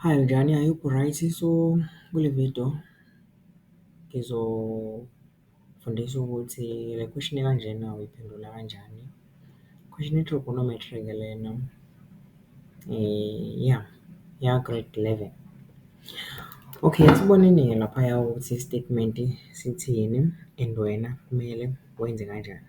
Hi, unjani? I hope u-right. So, kule vidiyo ngizofundisa ukuthi le question ekanjena uyiphendula kanjani. Question ye-trigonometry-ke lena, ya, eya-grade eleven. Okay, asiboneni-ke laphaya ukuthi i-statement-i sithini and wena kumele wenze kanjani.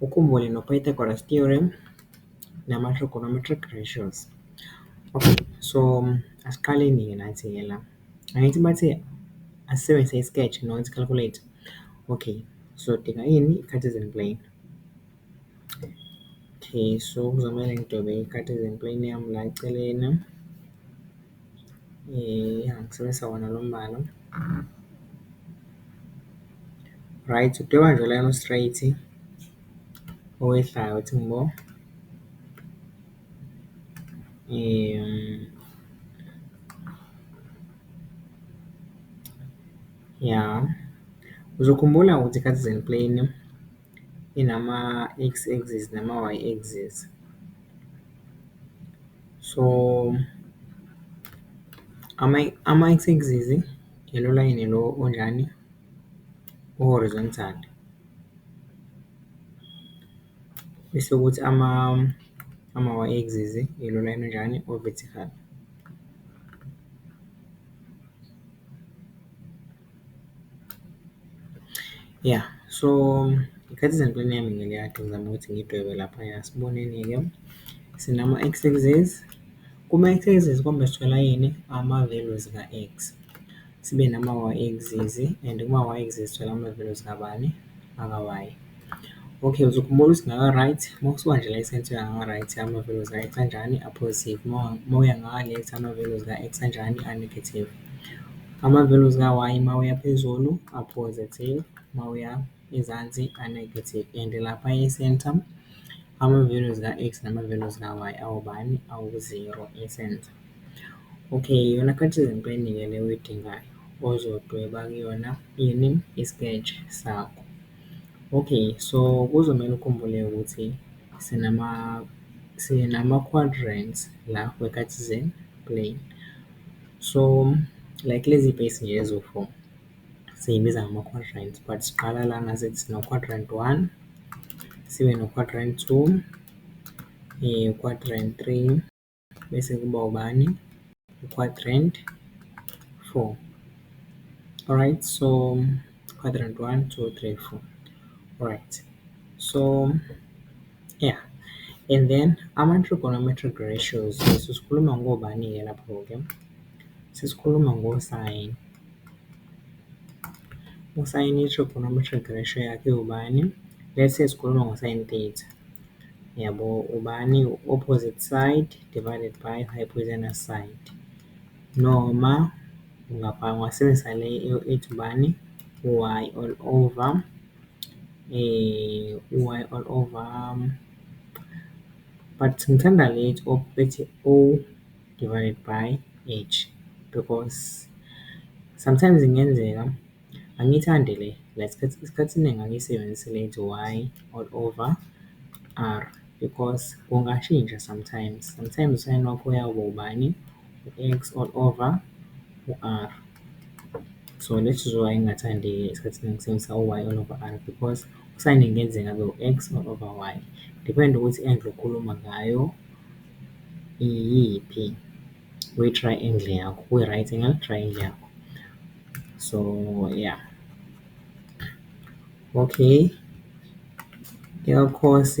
Ukhumbule no-Pythagoras theorem nama-trigonometric ratios. Okay, so asiqaleni-ke nathi-ke la. Angithi bathe asisebenzise i-sketch noma i-calculate. Okay, sizodinga ini? I-cartesian plane. Okay, so kuzomele ngidwebe i-cartesian plane yami la eceleni. Ya ngisebenzisa wona lo mbala. Right, udweba nje ulayini o-straight owehlayo uthi ngbo. Ya, uzokhumbula ukuthi kade . inama-X axis nama-Y axis. So, ama-X axis ilo layini lo onjani, o-horizontal. Bese kuthi ama-Y axis ilo layini onjani, o-vertical. Ya, so ngikhetha izampulweni yami ngeliyakhe ngizama ukuthi ngidwebe laphaya. Asiboneni-ke, sinama-X axis. Kuma-X axis kombe sithola ini? Ama-values ka-X. Sibe nama-Y axis and kuma-Y axis sithola ama-values kabani? Aka-Y. Okay, uzokhumbula ukuthi ngaka-right, uma usuka nje la eSense uya ngaka-right ama-values ka-X anjani? A-positive. Uma uya ngaka-left ama-values ka-X anjani? A-negative. Ama-values ka-Y uma uya phezulu a-positive, uma uya ezansi a-negative and lapha e-centre ama-values ka-X nama-values ka-Y awobani? Awu-zero e-centre. Okay, iyona khathesi into eningi le oyidingayo ozodweba kuyona ini? I-sketch sakho. Okay, so kuzomele ukhumbule ukuthi sinama-quadrants la we-cartesian plane. So like lezi bhesi nje eziwu-four siyibiza ngama-quadrant but siqala lana sithi sino-quadrant one, sibe no-quadrant two, quadrant three bese kuba ubani? U-quadrant four, alright so. Quadrant one, two, three, four. Right. So, yeah. And then ama-trigonometric ratios sesikhuluma ngobani-ke lapho-ke sesikhuluma ngosayini usayini i-trigonometric ratio yakhe ubani let's say sikhuluma ngosayini theta yabo ubani opposite side divided by hypotenuse side noma Ngapha ngingasebenzisa le ethi ubani, u-Y all over, u-Y all over, but ngithanda le ethi ethi O divided by H, because sometimes kungenzeka, angiyithandi le la isikhathi, isikhathi esiningi angiyisebenzisi le ethi Y all over R, because kungashintsha sometimes, sometimes u-sign wakho uyakuba ubani. u-X all over u-R. So le sizwe y ingathandeki esikhathini engisebenzisa u-Y all over R because u-sign kungenzeka abe u-X all over Y. Depend ukuthi i-angle okhuluma ngayo iyiphi, kwi-triangle yakho, kwi-right angle triangle yakho. So ya. Okay, eka-cos.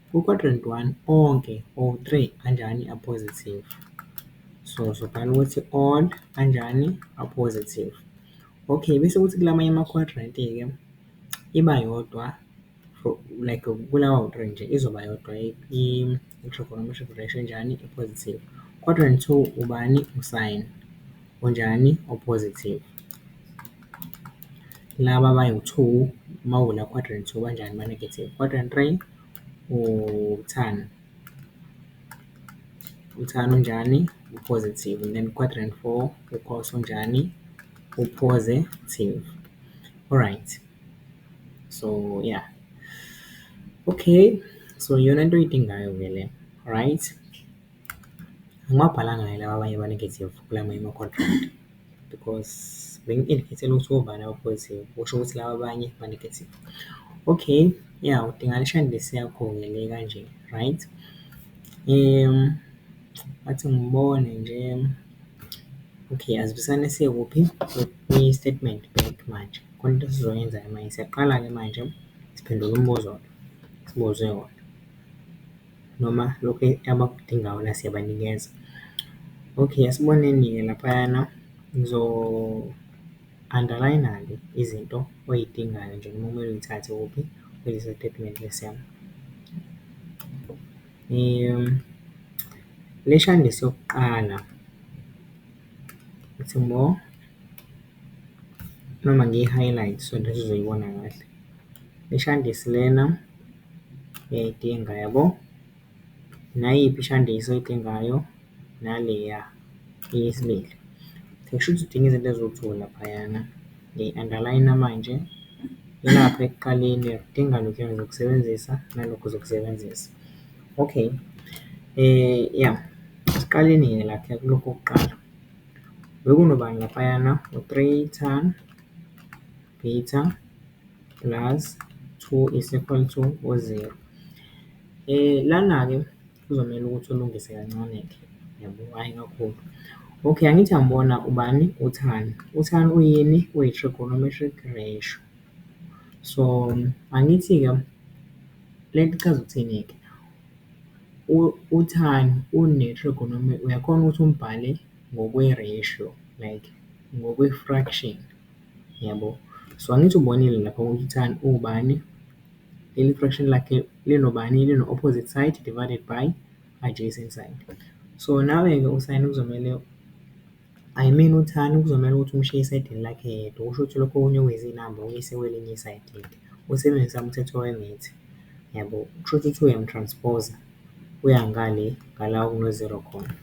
Ku quadrant one onke or three anjani a positive. So sobhala ukuthi all anjani a positive. Okay, bese kuthi kulamanye ama quadrant-ke iba yodwa for like kulawa awu three nje izoba yodwa i-trigonometric ratio enjani e positive. Quadrant two ubani u-sine. onjani o-positive. Laba abawu-two uma uvula quadrant two banjani ba-negative. Quadrant three uthani, uthani unjani u-positive and then quadrant four u-cos unjani u-positive. Alright, so ya. Okay, so iyona nto oyidingayo-ke le, right. Angibabhalanga kahle laba abanye aba-negative kula amanye ama-contract because bengi-indicate-ele ukuthi obani aba-positive, kusho ukuthi laba abanye ba-negative. Okay, ya udinga ishandisi yakho-ke le kanje, right? Ngathi ngibone nje, okay asibusane sikuphi kwi-statement back manje, khona into esizoyenza-ke manje, siyaqala-ke manje siphendula umbuzo-ke esibuze wona. noma lokhu abakudinga wona siyabanikeza. Okay, esiboneni-ke laphayana ngizo-underline-ke izinto oy'dingayo nje noma okumele uy'thathe kuphi kulesi sitatimende lesi sami. Lesi andisi esokuqala, ngithi more noma ngiyi-highlight so that uzoyibona kahle. Lesi andisi lena. uyayidinga yabo. Nayiphi ishandiso oyidingayo naleya eyesibili. Kushuthi udinga izinto eziwu-two laphayana. Ngiyi-underline-a manje, ilapha ekuqaleni udinga lokhuya engizokusebenzisa nalokhu uzokusebenzisa. Okay, ya asiqaleni-ke la kulokhu kokuqala. Bekunobani laphayana? U-three ton. beta plus 2 is equal to u-0. Lana-ke kuzomele ukuthi ulungise kancane-ke, yabo, hhayi kakhulu. Okay, angithi angibona ubani? UThani. UThani uyini? Uyi-trigonometric ratio. So, angithi-ke le nto ichaza ukuthini-ke? UThani uyakhona ukuthi umbhale ngokwe-ratio like ngokwe-fraction. Yabo? So, angithi ubonile lapho ukuthi tan uwubani, leli fraction lakhe linobani, lino-opposite side divided by adjacent side. So, nawe-ke u-sin kuzomele, I mean u-tan kuzomele ukuthi umshiye esayidini lakhe yedwa, kusho ukuthi lokho okunye okuyizinamba uyise kwelinye isayidi-ke, usebenzisa umthetho wemitha. Yabo? Kusho ukuthi uyamu-transpose, uya ngale ngala okuno-zero khona.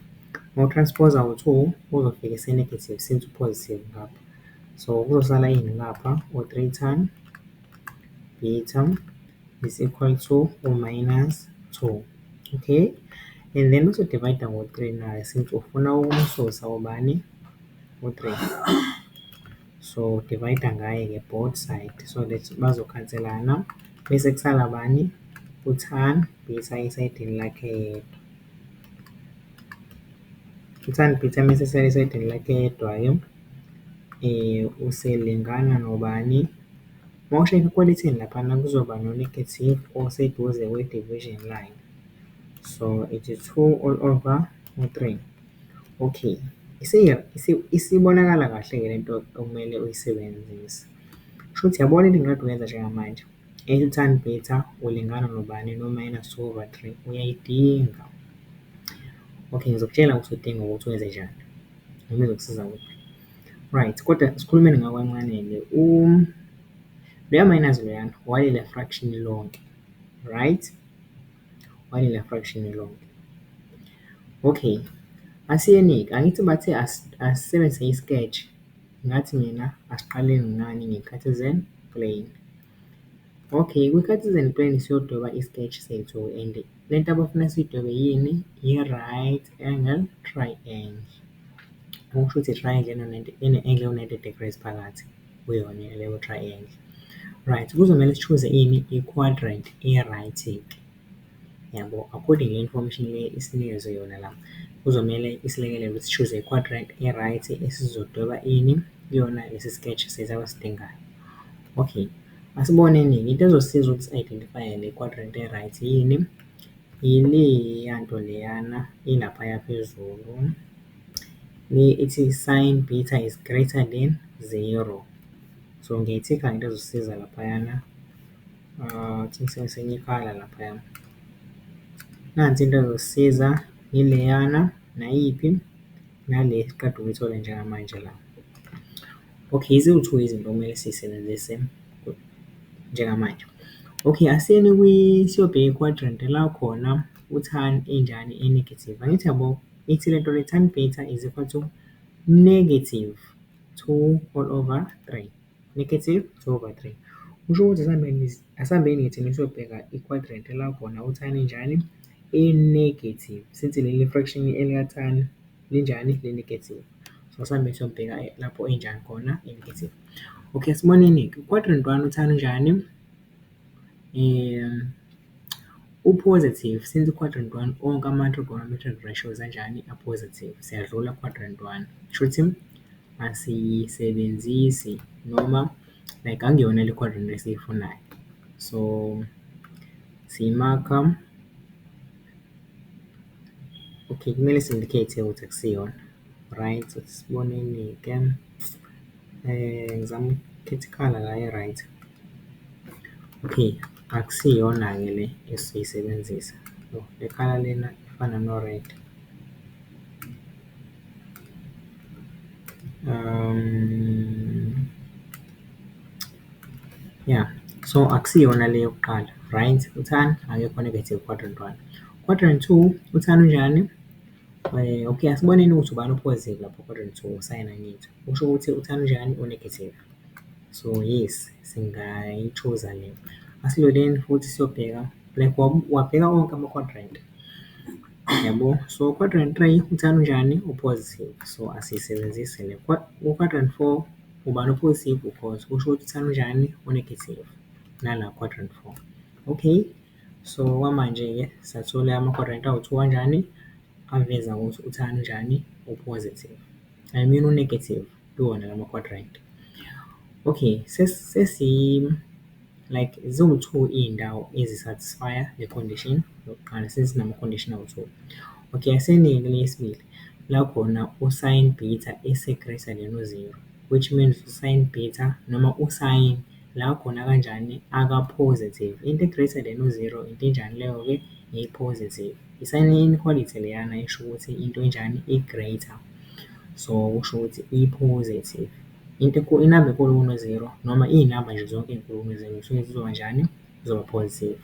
Uma u-transpose u-two, uzofika ese-negative since u-positive ngapha. So kuzosala ini lapha u-three tan beta is equal to u-minus two, okay? And then uzo-divide-a ngo-three naye since ufuna ukumsusa ubani, u-three. So divide-a ngaye-ke both side so that bazokhanselana bese kusala bani, u-tan beta esayidini lakhe yedwa. U-tan beta uma esesala esayidini lakhe yedwa-ke. Uselingana nobani? Uma ushayela ekwalethini laphana kuzoba no-negative oseduze kwe-division line. So it is two all over u-three. Okay, isibonakala kahle-ke le nto okumele uyisebenzise. Kushuthi uyabona into engikade uyenza njengamanje? I-tan beta ulingana nobani no-minus two over three, uyayidinga. Okay, ngizokutshela ukuthi uyidinga ngokuthi wenzenjani. Noma izokusiza kuphi. Right, kodwa sikhulumeni ngawe kancane-ke loya minus loyana walele fraction lonke, right? Walele fraction lonke. Okay, asiyeni-ke, angithi bathe asisebenzise i-sketch, ngathi mina asiqale ngani, nge-Cartesian plane. Okay, kwi-Cartesian plane siyodweba i-sketch sethu and. Le nto abafuna siyidwebe yini? Yi-right angle triangle. Okusho ukuthi i-triangle ene-angle ewu-ninety degrees phakathi kuyona leyo triangle. Right, kuzomele sishuze ini? I-quadrant e-right-ke, yabo? According nale information le esinikezwe yona la, kuzomele isilekelele ukuthi sishuze i-quadrant e-right esizodweba ini? Kuyona lesi sketch sethu abasidingayo. Okay. Asiboneni-ke into ezosiza ukuthi si-identify-e le quadrant e-right yini? Yileya nto leyana ilaphaya phezulu, le ethi sin beta is greater than zero. So, ngiyayi-tick-a into ezosisiza laphayana, I think sengibonisa elinye ikhala laphaya. Nansi into ezosisiza, yileyana, nayiphi? Nale esiqeda ukuyithola njengamanje la. Okay, iziwu-two izinto okumele siyisebenzise njengamanje. Okay, asiyeni kwi, siyobheka i-quadrant la khona u-tan injani e-negative. Angithi yabo, ithi le nto le tan beta is equal to negative two all over three, negative two over three. Kusho ukuthi asihambeni, asihambeni ngithi siyobheka i-quadrant la khona u-tan injani e-negative since leli fraction elika-tan linjani li-negative. So, sambe siyobheka lapho injani khona i-negative. Okay, asiboneni-ke u-quadrant root one uthanda unjani? U-positive, since u-quadrant root one onke ama-trigonometric ratios anjani? A-positive. Siyadlula ku-quadrant root one. Shuthi asiyisebenzisi noma like akuyona le quadrant esiyifunayo. So, siyi-mark-a. Okay, kumele si-indicate-e ukuthi akusiyona, right. Isibonelo-ke ngizama ukukhetha ikhala la e-right. Okay, akusiyona-ke le esizoyisebenzisa. Yoh, le khala lena ifana no-red. Ya, so akusiyona le yokuqala, right. Uthani? Akekho one ebethe u-quadrant one. Quadrant two, uthando unjani? Okay, asiboneni ukuthi ubani o-positive lapho quadrant two, usayina ngitho. Kusho ukuthi uthando unjani? U-negative. So yes, singayi-choose-a le. Asiloleni futhi siyobheka, like wabheka onke ama-quadrant, yabo. So quadrant three, uthando unjani? U-positive, so asiyisebenzisi le. Ku-quadrant four, ubani o-positive? U-cos, kusho ukuthi uthando unjani? U-negative, nala quadrant four, okay. So, okwamanje-ke sathole ama-quarantine awuthiwa kanjani, aveza ukuthi uThami unjani, u-positive. I mean u-negative kuwona lama quadrant. Okay, like ziwu-two iy'ndawo ezi-satisfy-a le condition yokuqala, sezinama-condition awu-two. Okay, asenike le yesibili, la khona u-sin beta ese-greater than u-zero, which means u-sin beta noma u-sin. La khona kanjani aka positive. Into e greater than u zero into enjani leyo ke? I positive. I sign e inequality leyana esho ukuthi into enjani? I greater. So kusho ukuthi i positive. Into enkulu, i number enkulu kuno zero noma i number nje zonke ezinkulu kuno zero zisuke zizoba njani? Zizoba positive.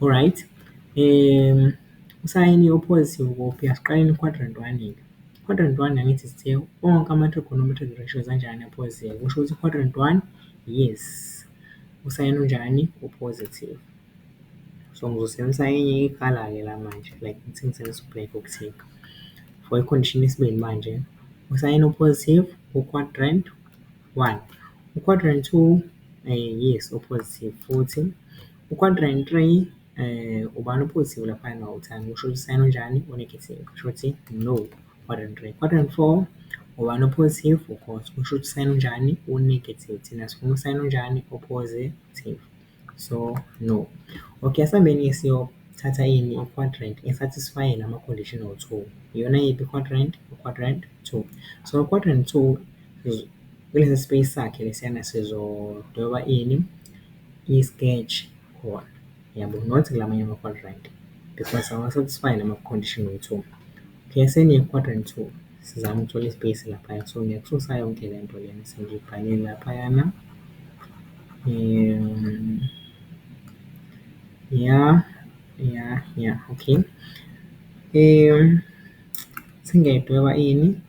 Alright, u sign o positive kuphi? Asiqaleni ku quadrant one-ke. Quadrant one angithi sithe onke ama-trigonometric ratios anjani a-positive, kusho ukuthi quadrant one, yes, usayini unjani, u-positive. So, ngizosebenzisa enye ikhala-ke la manje, like ngithi ngisebenzisa u-black ukuthikha. For i-condition yesibili manje, usayini o-positive ku-quadrant one, u-quadrant two, yes, u-positive futhi, u-quadrant three, Ubani o-positive laphaya engawuthandi? Kusho ukuthi u-sign-a onjani? O-negative. Kusho ukuthi no, one and three. Quadrant and four, ubani o-positive? U-cos. Kusho ukuthi u-sign-a onjani? O-negative. Thina sifuna u-sign-a onjani? O-positive. So, no. Okay, asambeni-ke siyothatha ini? I-quadrant e-satisfy-e lama-conditional two. Iyona yiphi i-quadrant? U-quadrant two. So, u-quadrant two kulesi space sakhe lesiyana sizodweba ini? I-sketch khona yabo not kulamanye ama-quadrant because awa-satisfy lama-condition wokuthi P_S_L ye-quadrant two sizama ukuthola i-space laphaya so ngiyaksusa yonke le nto lena esengiyibhalile laphayana. Ya, ya, ya, okay sengiyayidweba ini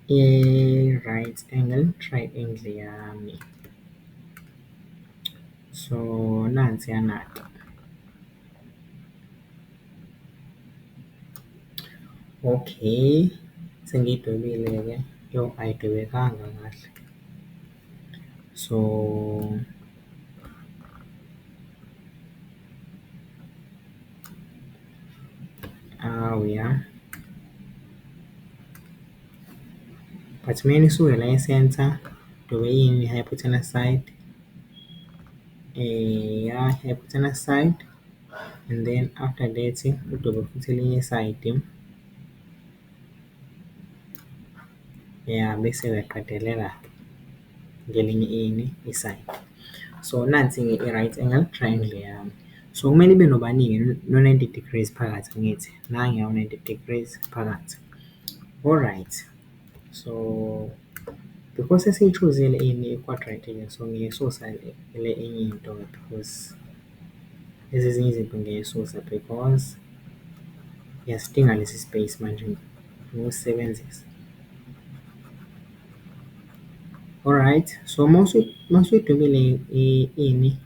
i-right angle triangle yami. So nansiyana-ke okay sengiyidwebile-ke yoh ayidwebekanga kahle. So awu ya but uma nisuke la e-centre udwebe ini, hypothenuse side? Uyaphuthelwa aside and then after that udobe futhi elinye isayidi. Ya bese uyaqedelela ngelinye ini, isayidi. So nansi-ke i-right angle triangle yami. So kumele ibe nobaningi? No-ninety degrees phakathi angithi? Nanguya u-ninety degrees phakathi. Alright. So because sesiyi-choose-zile ini i-quadrant so ngiyayisusa le enye into because lezi ezinye izinto ngiyayisusa because ngiyasidinga lesi space manje ngifuna ukusisebenzisa. Alright, so uma usuyidwebile ini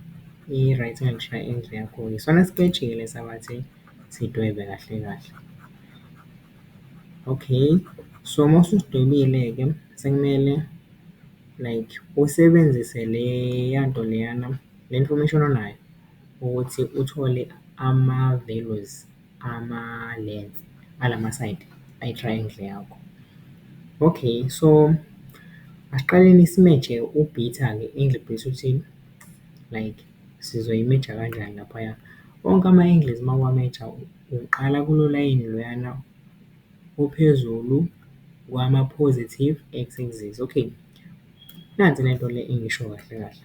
i-right hand triangle yakho-ke isona siketshike lesi abathi sidwebe kahle kahle. Okay, so uma ususidwebile-ke sekumele like usebenzise leya nto leyana, le information onayo ukuthi uthole ama-values ama-length ala masayidi e-triangle yakho. Okay, so asiqaleni simetshe u-beta-ke ingilibheyisi uthini like. sizoyimeja kanjani laphaya. Onke ama-angles uma uwameja uqala kulo layini loyana ophezulu kwama-positive x axis, okay. Nansi le nto le engiyisho kahle kahle,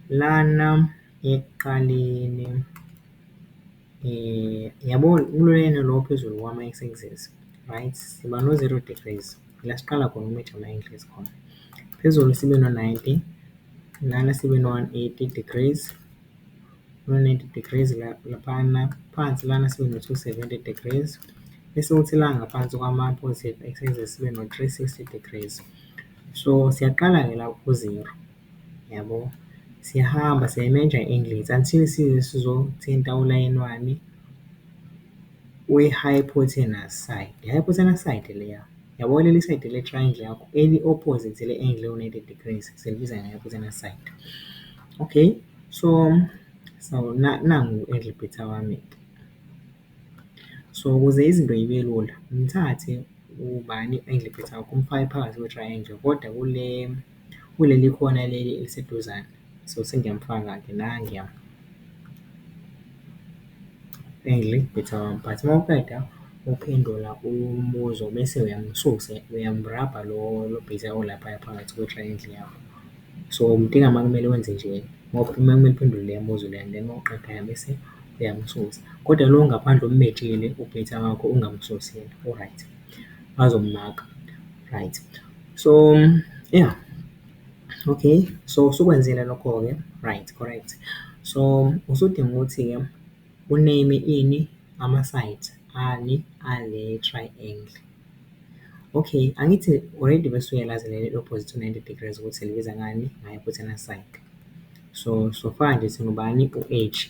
lana ekuqaleni. Yabo kulena lo ophezulu wami ma i-axis, right? Siba no-zero degrees, ila siqala khona ukumitha ma i-axis khona. Phezulu sibe no-ninety, lana sibe no-one eighty degrees, no-one ninety degrees laphayana. Phansi lana sibe no-two seventy degrees, bese kuthi la ngaphansi kwama-positive axis sibe no-three sixty degrees. So, siyaqala-ke la ku-zero. yabo. Siyahamba siyayimenja i-engines until size sizothinta ulayini wani we-hypotenuse side. I-hypotenuse side leya, yabo leli side le-triangle yakho eli-opposite le-angle ewu-ninety degrees silibiza nge-hypotenuse side. Okay, so so nangu u-angle bhitha wami. So ukuze izinto zibe lula, ngithathe ubani u-angle bhitha wakho umfake phakathi kwe-triangle kodwa kule. Kuleli khona leli eliseduzane so sengiyamufaka-ke la endlini ngithi awumphathe. Uma uqeda ukuphendula umbuzo bese uyamususa, uyamurabha lo bhithi olaphaya phakathi kotshani endlini yakho. So, umdinga uma kumele wenze nje uma kumele uphendule le mibuzo le and then uma uqeda bese uyamususa. Kodwa lo ongaphandle omumetshele ubhithi wakho ungamususi yena, u-right. bazomaka right. So ya okay so usukwenzile lokho-ke right correct. So usudinga ukuthi-ke u-name-e ini ama-side ani ale triangle. Okay angithi already bese uyalazi leli opposite to ninety degrees ukuthi silibiza ngani, nge-hypotenuse side. So so far nje singubani u-H.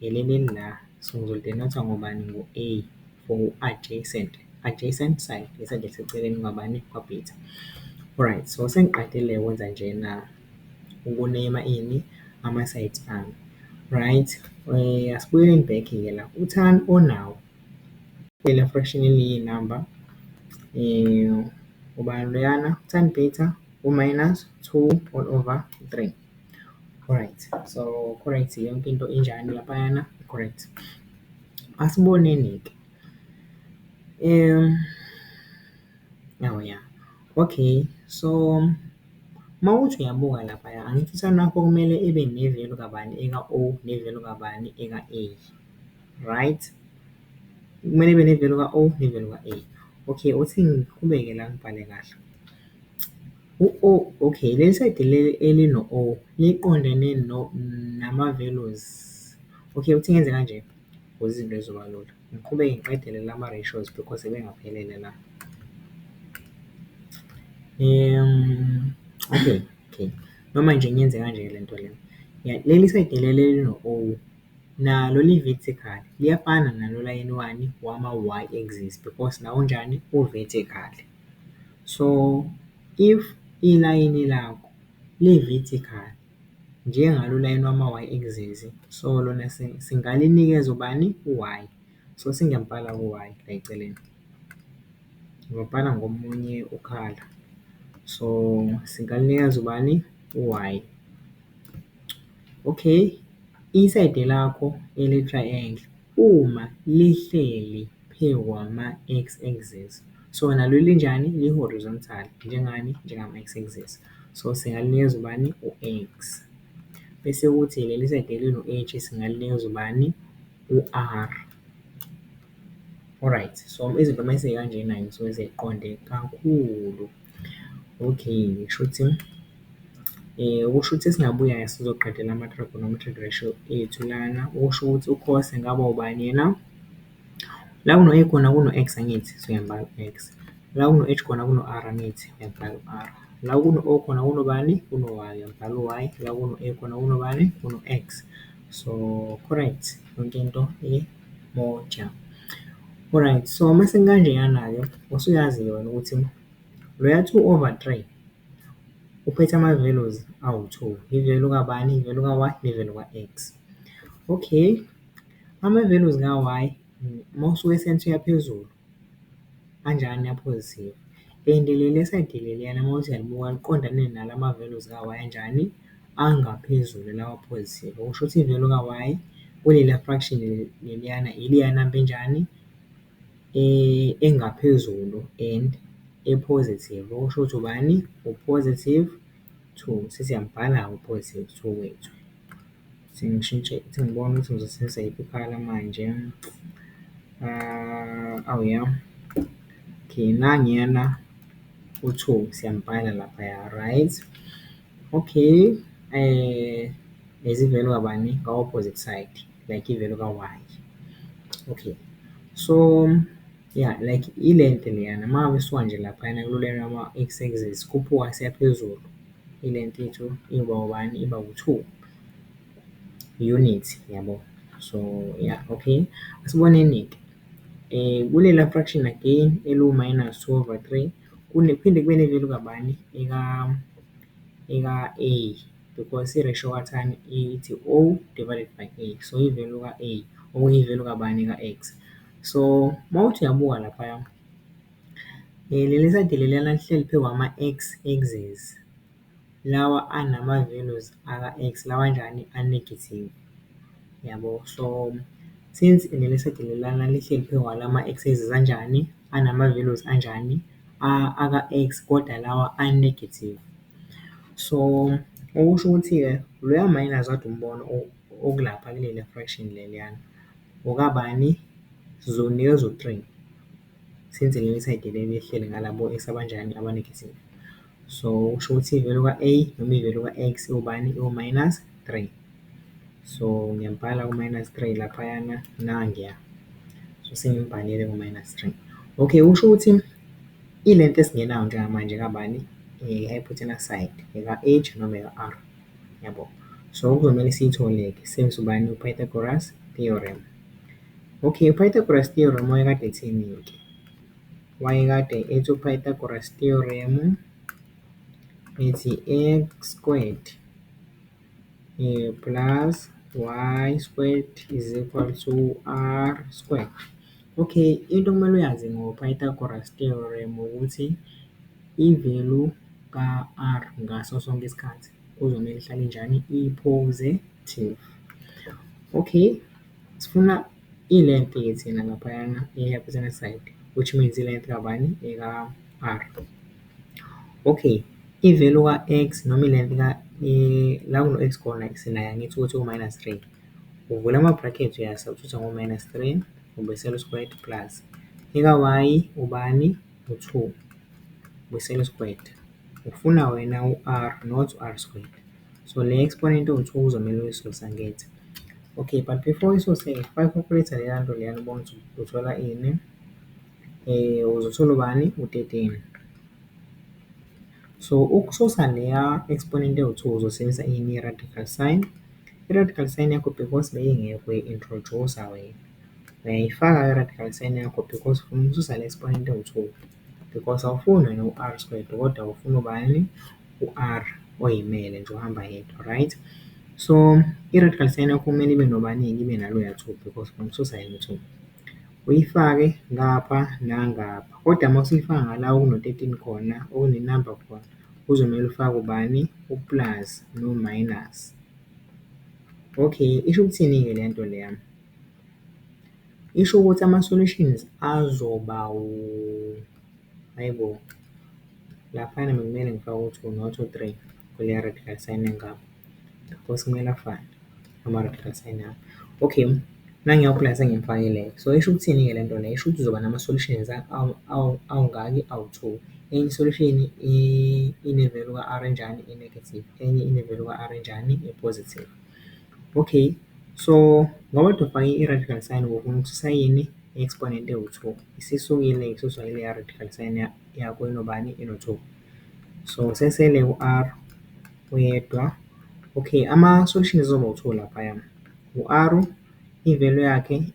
Ngeleli ngqá, singzolitenatsa ngobani ngo-A for u-adjacent, adjacent side, iside esiseceleni kwabani, kwaPeter. Alright, so sengiqedile ukwenza njena, ukuneyma ini, ama-sides ami. Right, asibuyeleni back-ke la, uThani onawo, lena fraction eliyi-number, ubani loyana, uThani Peter, u-minus two all over three. Alright so correct yonke into injani laphayana correct. Asiboneni-ke awu ya okay so uma uthi uyabuka laphaya angithi isayini lakho kumele ibe nevelu kabani eka-O nevelu kabani eka-A right? Kumele ibe nevelu ka-O nevelu ka-A. Okay uthi ngiqhubeke la ngibhale kahle. U-O, Ok, leli sayidi leli elino-O liqondene nama-values. Ok, uthi ngenze kanje ukuze izinto zizoba lula. Ngiqhubeke ngiqedele lama-ratios because ebengaphelele la. Ok, ok, noma nje ngiyenze kanje-ke le nto le. Ya, leli sayidi leli elino-O nalo li-vertical, liyafana nalo layini wani, wama-y axis because nawo unjani, u-vertical. So if ilayini lakho li vertical njengalo layini wama y axis so lona singalinikeza ubani u y so singempala ku y la eceleni ngobhala ngomunye ukhala so singalinikeza ubani u y. Okay isayidi lakho eli triangle Uma lihleli phe kwama x axis so nalo linjani li horizontal njengani njengama x axis so singalinikeza ubani u x bese kuthi leli side elino h singalinikeza ubani u r alright so izinto mase kanjena-ke zisuke seziqonde kakhulu. Okay, shuthi okusho ukuthi esingabuya naso sizoqedela ama-trigonometric ratio ethu lana, okusho ukuthi u-cos engaba ubani yena? La kuno-a khona kuno-x angithi? So, ngiyambala u-x. La kuno-h khona kuno-r angithi? Ngiyambala u-r. La kuno-o khona kunobani? Kuno-y, ngiyambala u-y. La kuno-a khona kunobani? Kuno-x. So, correct yonke into . Moja. Alright, so uma sekukanjeyana-ke usuyazi-ke wena ukuthi loya two over three uphethe ama-values awu-two. I-value kabani? I-value ka-Y ne-value ka-X. Okay, ama-values ka-Y uma usuka e-cent uya phezulu, Kanjani aphozisiwe? Le ndlela le esayidiliya leyana uma uthi uyalibuka liqondane nala ma-values ka-Y anjani? Angaphezulu lawa aphozisiwe. Okusho ukuthi i-value ka-Y kuleliya fraction leliyana ileya namba enjani? Engaphezulu and e-positive. Okusho ukuthi ubani? U-positive two. Sesiyamubhala-ke u-positive two wethu. Sengishintshe sengibona ukuthi ngizosebenzisa yiphi i-colour manje. Awu ya, okay nangiyana u-two siyambhala laphaya right. Okay as i-value kabani, ka-opposite side like i-value ka-Y. Okay so ya like ilento leyana uma ngisuka nje laphayana kulena kwa-X axis, khuphuka siya phezulu. Ile ntetho iba u-one iba u-two, unit yabo. So, ya okay. Asiboneni-ke kulela fraction again eliwu-minus two over three kuphinde kube neli likabani? Lika-a because i-ratio kathani ithi o divided by a. So, ivelu ka-a okuyivelu kabani? Ka-x. So, uma uthi uyabuka laphaya. Leli lisadelelana lihleli phezu kwama-X axis, lawa anama-values aka-X lawa anjani? A-negative, yabo. So, since leli lisadelelana lihleli phezu kwalama-X axis anjani? Anama-values anjani? Aka-X kodwa lawa a-negative. So, okusho ukuthi-ke loya minus okade umbona okulapha kuleliya fraction leliyana okabani? Sizowunikeza u-three. since leli side leli lihleli ngalabo ex abanjani aba-negative. So kusho ukuthi i-value ka-A noma i-value ka-X iwubani? Iwu-minus three. So ngiyambhala u-minus three laphayana nangiya. So sengimbhalile u-minus three. Okay, kusho ukuthi i-length esingenayo njengamanje ekabani? I-hypotenuse side, eka-H noma eka-R. Yabo? So okuzomele siyithole-ke sisebenzise ubani? U-Pythagoras theorem. Okay, uPythagoras theorem wayekade ethini-ke? Wayekade ethi uPythagoras theorem ethi x squared eh, plus y squared is equal to r squared. Okay, into okumele uyazi ngoPythagoras theorem ukuthi i-value ka-r ngaso sonke isikhathi kuzomele ihlale njani i-positive. Okay, Sifuna i-length ke thina ngaphayana eyaphesana side which means i-length kabani eka-R. Okay, i-value ka-X noma i-length la kuno-X khona sinayo angithi ukuthi u-minus three. Uvula ama-bracket uya-subtract-a ngo-minus three ubuyisela u-squared plus eka-Y ubani? U-two, ubuyisela u-squared. Ufuna wena u-R not u-R squared. So le exponent of 2 kuzomele uyisuse angithi? Okay, but before uyisuse bayicalculator leya nto leyana ubone ukuthi uthola ini. Eh, uzothola ubani? U-13. So ukususa leya exponent ewu-2 uzosebenzisa ini? I-radical sign. I-radical sign yakho because beyingekho uyi-introduce-a wena. Uyayifaka i-radical sign yakho because ufuna ukususa le exponent ewu-2. because awufuni wena u-R Square kodwa ufuna ubani? U-R oyimele nje ohamba yedwa right. So i-red card sign yakho kumele ibe nobaningi ibe naloya two because from two sign two. Uyifake ngapha nangapha kodwa uma usuyifaka ngala okuno-thirteen khona okunenamba khona kuzomele ufake ubani? U-plus no-minus. Okay, isho ukuthini-ke le nto leya? Isho ukuthi ama-solutions azoba hhayi bo, laphayana bekumele ngifake u-two not u-three kuleya red card sign engaka, because kumele afane ama-red card sign ami. Okay, nangiyakho la sengimfakile, so isho ukuthini-ke le nto le? Isho ukuthi uzoba nama-solutions awungaki, awu-two. Enye i-solution ine-value ka-R enjani, e-negative, enye ine-value ka-R enjani, e-positive. Okay, so ngoba udobhani i-radical sign ngokuthi usayine i-exponent ewu-2, isisukile isuswa ileya radical sign yakho enobani? Eno-2. So sesele u-R uyedwa. Okay, ama-solution ezoba u-2 laphaya, u-R i-value yakhe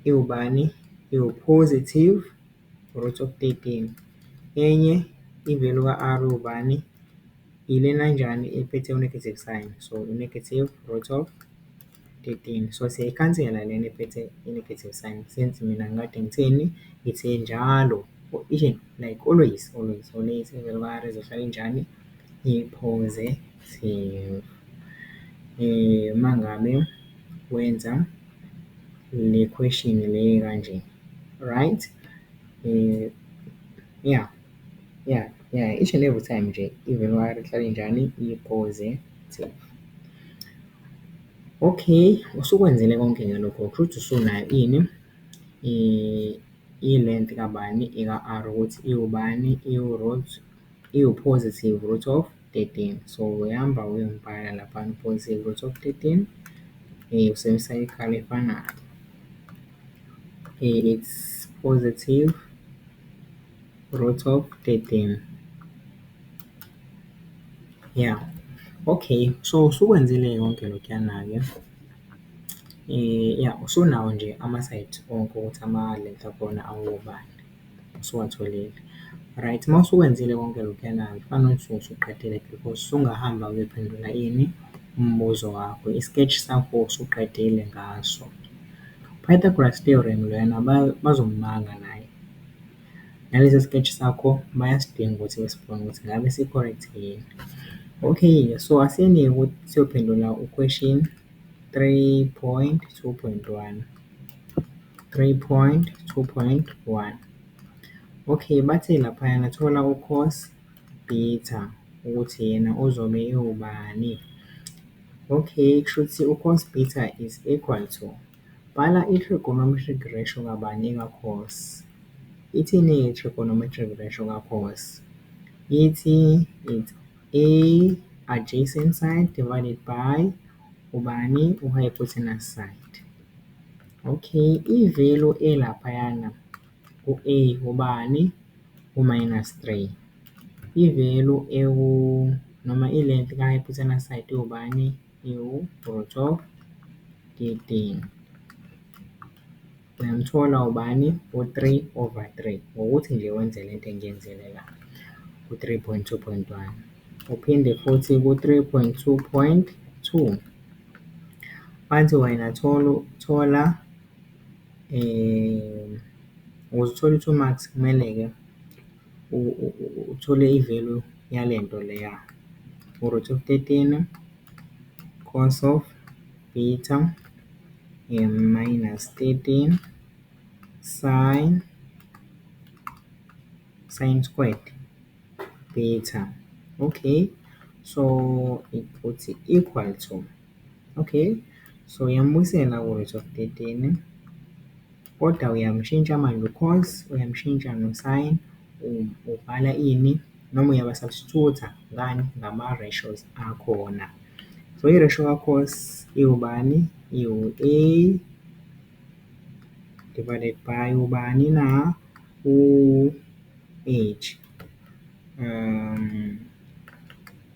iwubani? Iwu-positive root of 13. Enye i-value ka-R iwubani? Yilena njani ephethe u-negative sign. So, u-negative root of 13. So, siyayikhansela lena ephethe i-negative sign since mina ngikade ngitheni, ngithe njalo or each and like always, always, always ivele kwayara izohlala injani? I-positive. Uma ngabe wenza le question le kanje, right? Ya. Ya, ya, each and every time nje even wari ihlale injani i-positive. Okay, usukwenzile konke ke lokho kushuthi usunayo ini i-length kabani eka-R ukuthi iwubani, iwu-root, iwu-positive root of thirteen. So, uyahamba uyombhala laphana u-positive root of thirteen usebenzisa ikhala efanayo. It's positive. Root of 13. Yeah. Okay, so usukwenzile yonke lokuyana-ke. Eh, yeah, usunawo nje ama-site onke ukuthi ama-length akhona awobani. Usuwatholile. Right, uma usukwenzile konke lokuyana-ke kufanele ukuthi usuqedile because usungahamba uyophendula ini? Umbuzo wakho. I-sketch sakho usuqedile ngaso. Pythagoras theorem lona bazomubanga naye. Nalesi skechi sakho bayasidinga ukuthi besibone ukuthi ngabe si-correct yini. Okay-ke so asiyeke ukuthi siyophendula u-question three point two point one, three point two point one. Okay, bathe laphayana thola u-cos theta ukuthi yena uzobe ewubani. Okay, kushuthi u-cos theta is equal to. Bhala i-trigonometric ratio kabani ka-cos? Ithini i-trigonometric ratio ka-cos? Ithi it's A adjacent side divided by ubani, u-hypotenuse side. Okay, i-value elaphayana ku-A ubani, u-minus three. I-value ewu noma i-length ka-hypotenuse side iwubani? Iwugcotshwa gedeni. Uyamthola ubani? U-three over three, ngokuthi nje wenze le nto engiyenzile la ku-three point two point one. Uphinde futhi ku-three point two point two, bathi wena thola, thola ukuze uthole u-two marks kumele-ke uthole i-value yale nto leya, u-root of thirteen cos of theta minus thirteen sin, sin squared theta. Okay, so uthi equal to, okay, so uyambuyisela u-root of thirteen. Kodwa uyamshintsha manje u-cause, uyamshintsha no-sin, ubhala ini noma uyaba-substitute-a ngani, ngama-ratios akhona. So i-ratio ka-cos iwubani? Iwu-A divided by ubani na? U-H .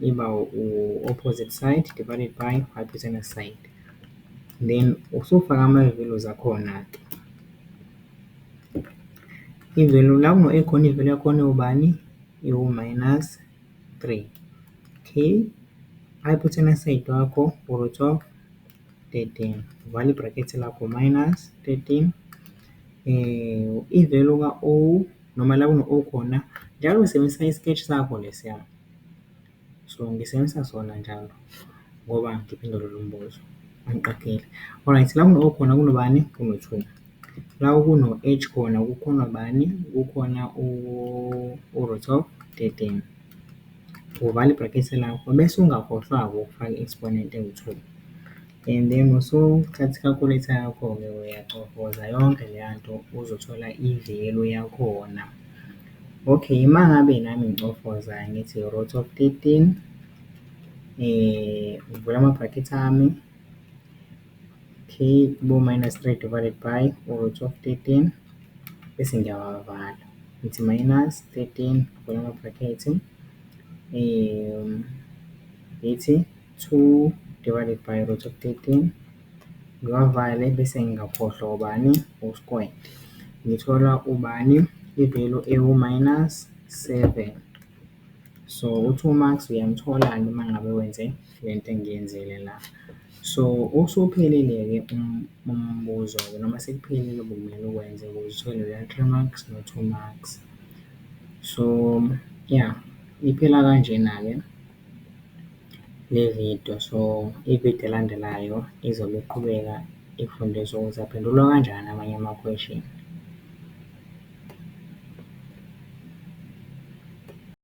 iba u-opposite side divided by hypotenuse side. Then usufaka ama-values akhona-ke. I-value la ekhona i-value yakhona iwubani? Iwu-minus three. Okay, hypotenuse side wakho u-root of thirteen. Vala i-bracket lakho, minus thirteen. I-value ka-O noma la kuno O khona, njalo ngisebenzisa i-sketch sakho lesiya. So, ngisebenzisa sona njalo ngoba ngiphendule lo mbuzo angiqageli. Alright, la kuno O khona kunobani? Kuno-two. La kuno-H khona kukhona ubani? Kukhona u-root of thirteen. Uvala ibhrakethe lakho bese ungakhohlwa-ke ukufaka i-exponent engu-two. And then mosowuthatha i-calculator yakho-ke uyacofoza yonke leya nto uzothola i-value yakhona. Okay, uma ngabe nami ngicofoza ngithi root of thirteen ngivula ama-bracket ami, okay bo-minus three divided by u-root of thirteen bese ngiyawavala ngithi minus thirteen ngivula ama-bracket ngithi. 2 divided by root of 13 ngiwavale bese ngingakhohlwa ubani usquared ngithola ubani ivelu ewu-minus 7 so u-2 marks uyamthola noma ngabe wenze le nto engiyenzile la so usuphelile-ke um, umbuzo-ke noma sekuphelile obumele ukwenze ukuze uthole leyo 3 marks no-2 marks so ya yeah, iphela kanjena-ke Le vidiyo, so ividiyo elandelayo izobe iqhubeka ifundisa ukuthi aphendulwa kanjani amanye amakhweshini.